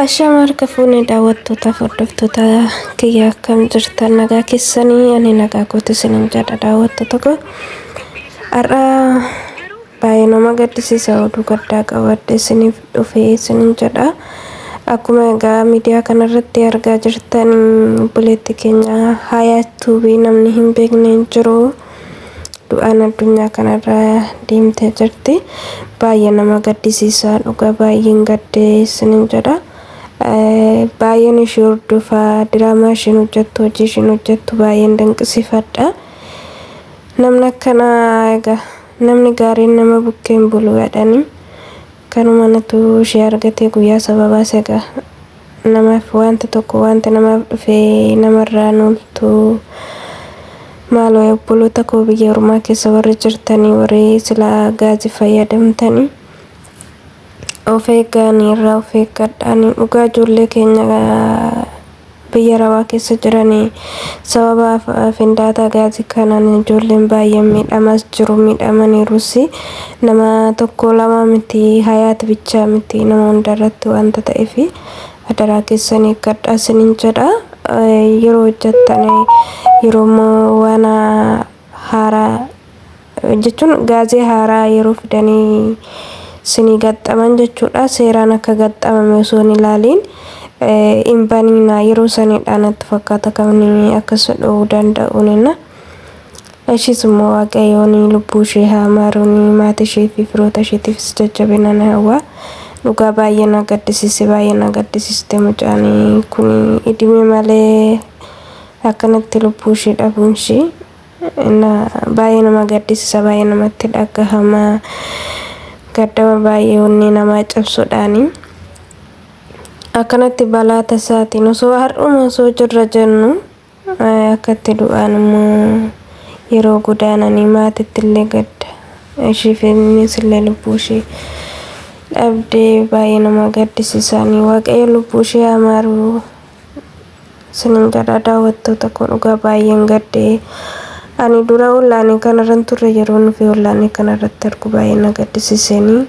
Ashama harka fuune daawwattootaaf hordoftoota kiyya akkam jirtan nagaa keessanii ani nagaa kooti isinin jedha daawwattoota koo har'a baay'ee nama gaddisiisa oduu gaddaa qabadde isiniif dhufe isinin jedha akkuma egaa miidiyaa kanarratti argaa jirtan obboleetti keenya haayaa tuubii namni hin beekne hin jiru. du'aan addunyaa kanarra deemtee jirti baay'ee nama gaddisiisaa dhugaa baay'een gaddee isinin jedha baay'een ishii hordofa diraamaa ishiin hojjettu hojii ishiin hojjettu baay'een dinqisiifadha namni akkana egaa namni gaariin nama bukkeen bulu jedhanii kanuma natu ishee argatee guyyaa sababaas egaa Namaaf waanti tokko waanti namaaf dhufe namarraa hin ooltu. Maaloo yaa obboloota koo biyya ormaa keessa warri jirtanii warri silaa gaazii fayyadamtanii of eeggaanii irraa of eeggadhaanii dhugaa ijoollee keenya biyya arabaa keessa jiranii sababa af- findaataa gaazii kanaan ijoolleen baay'een miidhamaas jiru miidhamaniirus Nama tokko lama miti hayaat bichaa miti nama hunda irratti wanta ta'eef adaraa keessan eeggadhaa isinin jedha yeroo hojjattan yeroo immoo waan haaraa jechuun gaazee haaraa yeroo fidanii sinii gaxxaman jechuudha seeraan akka gaxxamame osoo hin ilaaliin hin baniina yeroo sanidha natti fakkaata kan akkas dhowuu danda'uunina. Ishiis immoo waaqayyoon lubbuu ishee haa maaruun maati ishee fi firoota isheetiifis jajjabina ni hawwa. Dhugaa baay'ee na gaddisiise baay'ee na gaddisiiste mucaan kun idime malee akkanatti lubbuu ishee dhabuun ishee na baay'ee nama gaddisisa baay'ee namatti dhagahama gaddama baay'ee onnee namaa cabsuudhaani. Akkanatti balaa tasaatiin osoo har'uma osoo jirra jennu Akkatti du'aan immoo yeroo godaananii maatitti illee gadda. Ishii fi ilmiis illee lubbuu ishii dhabdee baay'ee nama gaddisiisaanii waaqayyo lubbuu ishii haa maaruu. Sinin gadhaa daawwattoota koo dhugaa baay'een gaddee. Ani dura ollaanii kanarran turre yeroo nufi ollaanii kanarratti argu baay'ee na gaddisiiseenii.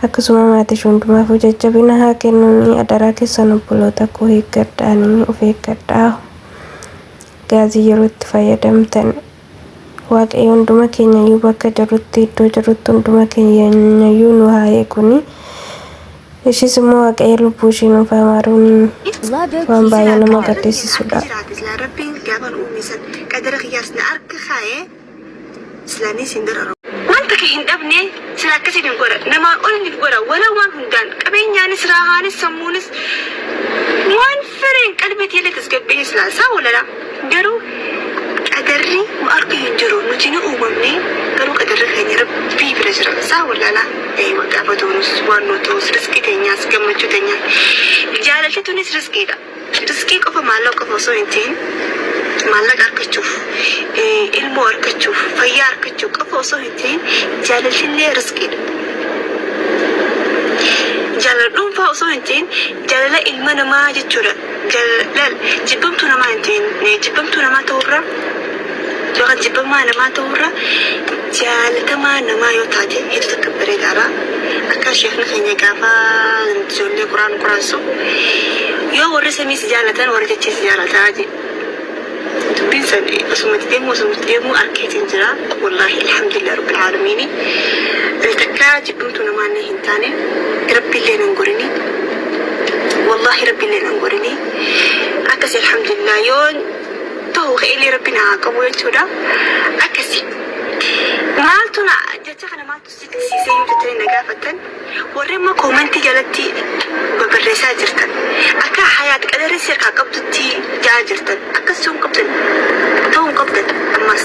Akkasuma maatish hundumaafuu jajjabina haa kennuni adaraa kessan obboloota koo eeggadhaani of eeggadhaa gaazii yeroo itti fayyadamtan waaqayyo hunduma keenyayyuu bakka jirrutti iddoo jirrutti hunduma keenyayyuu nu haa eeguni ishiis immoo waaqayyo lubbuu ishii nuuf haa maaruuni Love waan baay'ee nama gaddisiisudha. jiraate silaa rabbiin gaafan uume san qadara kiyyaas na arka kaa'e islaanii siin dararu. Waan takka hin dhabne sila akkasiin hin godha namaan ol hin godha wala waan hundaan qabeenyaanis raahaanis sammuunis waan fireen qalbii tiillee tasgabbiin silaa isaa walala garuu qadarri nu arka hin jiru nuti ni uumamne garuu qadarri keenya rabbii bira jira isaa walala gaafa duunus waan nu ta'us riskii teenyaas gammachuu teenyaa jaalalti tunis riskiidha. Riskii qofa maallaqa qofa osoo hin ta'in maallaqa argachuuf, ilmoo argachuuf, fayyaa argachuuf qofa osoo hin ta'in jaalaltillee riskiidha. Jaalala dhuunfaa osoo hin ta'in jaalala ilma namaa jechuudha. Jaalala jibbamtuu namaa hin ta'in jibbamtuu namaa ta'uu irra Yookaan jibbamaa namaa ta'uu irra jaalatamaa namaa yoo taate hedduu takka bareedaadha. Akka sheekni keenya gaafa ijoollee Quraan quraansu yoo warri samii si jaalatan warri dachee si jaalataa jedhe. Dubbiin san osumatti deemuu osumatti deemuu arkeetiin jira. Wallaahi alhamdulillah rabbil aalamiini. Ani takka jibbamtu namaallee hin taane rabbiillee nan gorini. Wallaahi rabbiillee nan gorini. Akkasi alhamdulillah yoon tahu ka'eellee rabbiin haa qabu jechuudha. Akkasi. Maaltu na jecha kana maaltu siqsiisee yoo jettanii na gaafattan warri immoo koomentii jalatti barreessaa jirtan akka hayaat qadarri seerkaa qabdutti jaa jirtan akkas ta'uu hin qabdan ta'uu hin qabdan ammas.